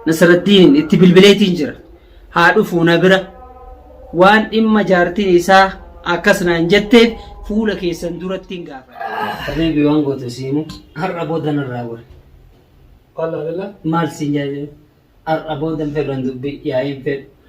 Nasraddiiniin itti bilbileetiin jira. Haa dhufuu na bira. Waan dhimma jaartiin isaa akkas naan jetteef fuula keessan durattiin gaafadha. Habiibi waan gootu si himu har'a booda narraa gori. Maal siin jaajee? Har'a booda hin fedhan dubbii yaa'iin fedhu.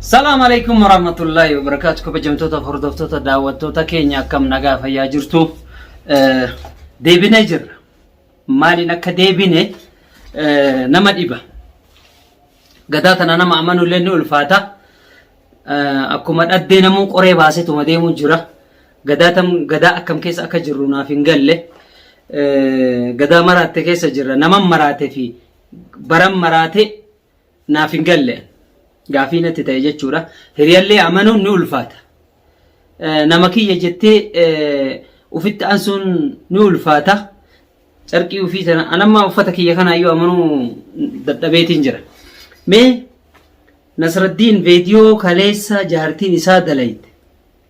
Salaam alaikum warahmatullahi wabarakatuh kabajamtoota hordoftoota daawwattoota keenya akkam nagaa fayyaa jirtu Eh, deebinee jirra maaliin akka deebine eh, nama dhiba gadaa tana nama amanu illee ni ulfaata Eh, akkuma dhaddee namuu qoree baasetuma deemu jira gadaa tam gadaa akkam keessa akka jirru naaf hin galle Eh, gadaa maraatte keessa jirra naman maraate fi baran maraate naaf hin galle gaafii natti ta'e jechuudha. Hiriyallee amanuun ni ulfaata. Nama kiyya jettee ufitti ansuun ni ulfaata. Carqii ufii sana anammaa uffata kiyya kanaayyuu amanuu dadhabeetiin jira. Mee Nasraddiin veediyoo kaleessa jaartiin isaa dalayte.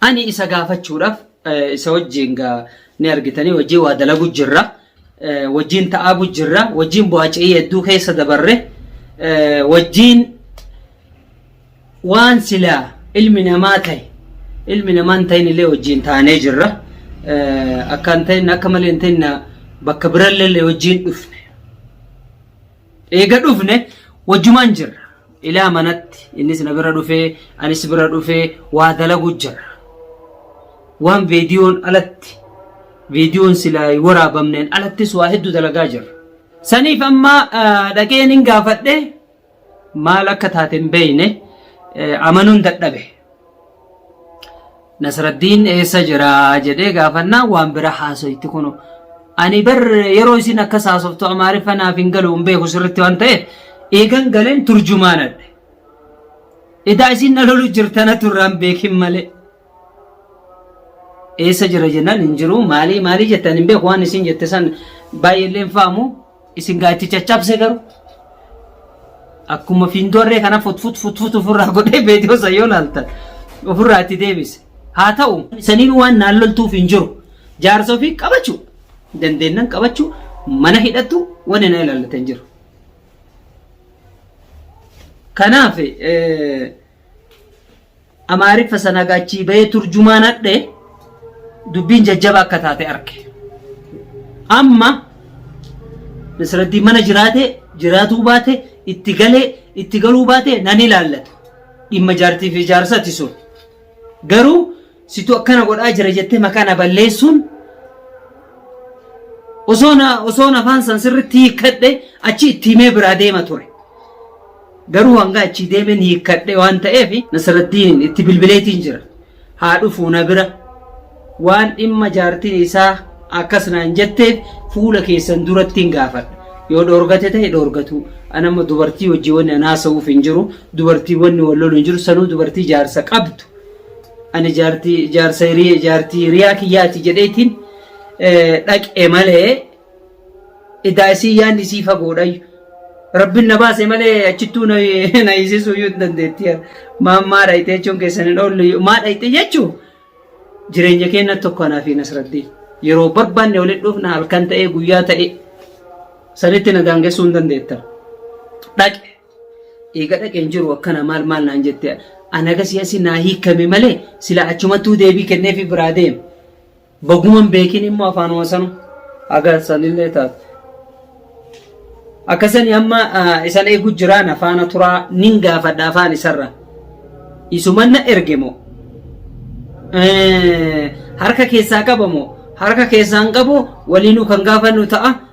Ani isa gaafachuudhaaf eh, isa wajjin gaa ni argitanii wajjin waa dalagu jirra. Eh, Wajjin ta'aagu jirra. Wajjin bu'aaca'ii hedduu keessa dabarre. Eh, Wajjin waan silaa ilmi namaa ta'e ilmi namaa hin ta'in illee wajjin taanee jirra. Eh, Akka hin ta'in akka malee hin ta'in na- bakka birallee illee wajjin dhufne. Eega dhufne wajjumaan jirra. Ilaa manatti innis na bira dhufee anis bira dhufee waa dalagu jirra. Waan viidiyoon alatti viidiyoon silaa hin waraabamneen alattis waa hedduu dalagaa jirra. Saniif amma ah, dhaqeen hin gaafadhe maal akka taate hin beeyne eh, amanuun dadhabe. Nasraddiin eessa jira jedhee gaafannaan waan bira haasoyti kunu. Ani bar yeroo isin akkas haasoftu amaariffa naaf hin galu hin beeku sirritti waan ta'eef eegan galeen turjumaanadhe. Edaa isin na lolu jirtana turraan beekin malee. Eessa jira jennaan hin jiru maalii maalii jettan hin beeku waan isin jette san baay'eellee hin faamu. Isin gaa itti caccabse garuu akkuma fiindoorree kana futfut futfut ofirraa godhee beediyoo san yoo laaltan ofirraa itti deebise. Haa ta'u saniin waan naan loltuuf hin jiru. Jaarsa ofii qabachuu dandeennan qabachuu mana hidhattu wanni na ilaallate hin jiru. Kanaaf Amaariffa sana egaa achii bahee turjumaan hadhe dubbiin jajjaba akka taate arge. Amma Nasraddiin mana jiraate jiraatuu baate itti galee itti galuu baate nan ilaallatu. Dhimma jaartii fi jaarsati sun. Garuu Situ akkana godhaa jira jettee maqaa na balleessuun osoo na osoo afaan san sirriitti hiikkadhe achi itti himee biraa deema ture. Garuu hanga achi deemeen hiikkadhe waan ta'eef Nasrattiin itti bilbileetiin jira. Haa dhufuu na bira waan dhimma jaartiin isaa akkas naan jetteef fuula keessan duratti hin gaafadha. Yoo dhoorgate ta'e dhoorgatuu. Anamma dubartii wajjin wanni an haasa'uuf hin jiru. Dubartii wanni wal lolu hin jiru. Sanuu dubartii jaarsa qabdu. Ani jaartii jaarsa hirii jaartii hiriyaa kiyyaati jedheetiin dhaqe malee idaa isii yaan isii fagoodhayyu. Rabbiin na baase malee achittuu na na hiisisuu iyyuu hin dandeetti. Maan maa dhayite jechuun keessan hin oollu iyyuu. Maa dhayite jechuu jireenya keenya tokko anaa fi Nasraddiin. Yeroo barbaanne walitti dhufna halkan ta'ee guyyaa ta'ee sanitti na daangessuu hin dandeetta. Dhaqe. Eega dhaqeen jiru akkana maal maal naan jette ana gasii asi naa hiikkame malee sila achumattuu deebii kenneefi biraa deeme. Baguman beekin immoo afaanuma sanu agarsanillee taate. Akkasani amma isan eegu jiraan afaana turaa nin gaafadha afaan isarra. Isuman na erge moo? Harka keessaa qaba moo? Harka keessaan qabu waliinuu kan gaafannu ta'a.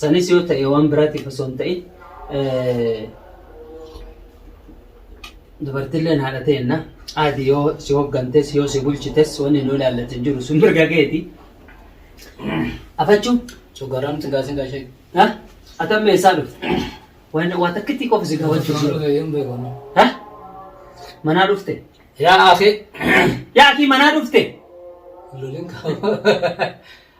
Sanis yoo ta'e waan biraatiif osoo hin ta'in dubartiilleen haadha ta'enna aadi yoo si hooggantes yoo si bulchites wanni nu ilaallatu hin jiru sun mirga keeti. Afachuu Cogaram tiga singa shek. ha atam meeshaa dhufe waan waa takkitti qofa si gaafachuu Cogaram jiru. kayem be kono. Ha? Manaa dhufte? Ya akhi. Yaa akii manaa dhufte? Lulin kau.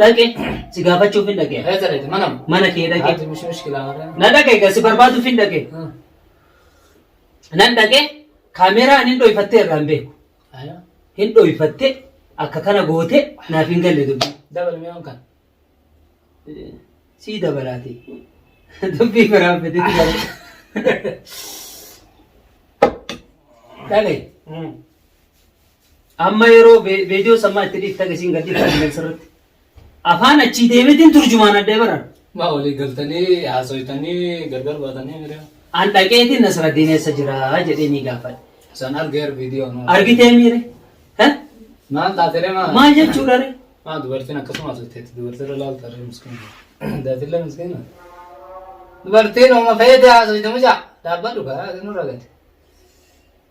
dhaqe si gaafachuuf hin dhaqe Eessa dhaqe? Mana. mana kee dhaqe Haati mishii mishkilaa warra. na dhaqe egaa si barbaaduuf hin dhaqe Hmm. nan dhaqe kaameeraan hin dhoyfattee irraa hin beeku Ayo. hin dhoyfattee akka kana goote naaf hin galle dubbii Dabal mi'oon kan. sii dabalaati dubbii biraa fedhe dhaqe Hmm. Amma yeroo vedio sammaa itti dhiiftan isiin gad dhiiftan kan sirritti. Afaan achii deemetiin turjumaan addee baran. Ma olii galtanii haasoytanii gargar baatanii mire. An dhaqeetiin Nasraddiin eessa jira jedhee ni gaafadhe. San argeer viidiyoo. Argitee miire? Maal taatee maa? Maal jechuudha ree? Maa dubartiin akkasuma asitteetti dubartiirra laalta ree miskiina. Daatillee miskiina. Dubartiin oma feete haasoyte mucaa. Dhaabbadhu kaa nurra gate.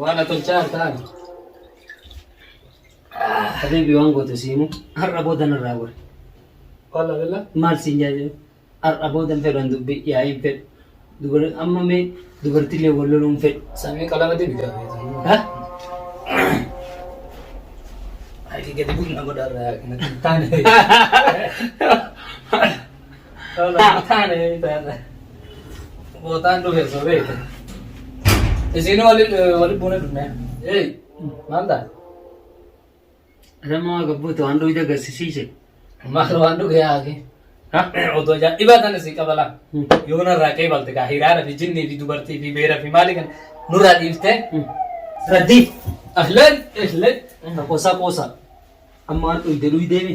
Waan atolchaa hartaan. Habibi waan goote siimu har'a booda narraa gore. Wallah billah. Maal siin jaajiru? Har'a booda hin fedhan dubbi yaa'ii hin fedhu. Dubar- Amma mee dubartiilee wal loluu hin fedhu. Samii qalama deebi gaafate. Ha? Hayi gadi bu'u na godha irraa hin taane. Bootaan dhufe osoo beekte. Isiin wali wali buune dhufne. Ee maal ta'a? Adama gabbuutu waan dhugde agarsiisiise. Maal waan dhuge yaa'ake? Otoo jaa dhibaa sana si qabala. Yoo narraa kee balte kaa hiraara fi jinnii fi dubartii fi beera fi maali kan nurraa dhiiftee. Raddii. Ahlan ahlan. Qoosaa qoosaa. Amma waan dhugde dhugdeemi.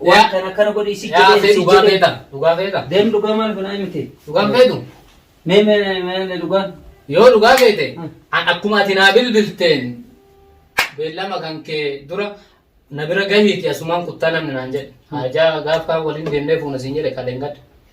Waan kana akkana godhi si Yaa jedhee fee si dhugaa jedhee. feeta. Dhugaa feeta. Deem dhugaa maal finaa miti. Dhugaan feetu. Mee mee mee mee dhugaan. Yoo dhugaa feete Hmm. an akkuma ati naa bilbilteen beellama kan kee dura na bira gahiiti asumaan kuttaa namni naan jedhe. Haajaa gaaf kaan waliin deemnee fuuna siin jedhe kaleen gadda.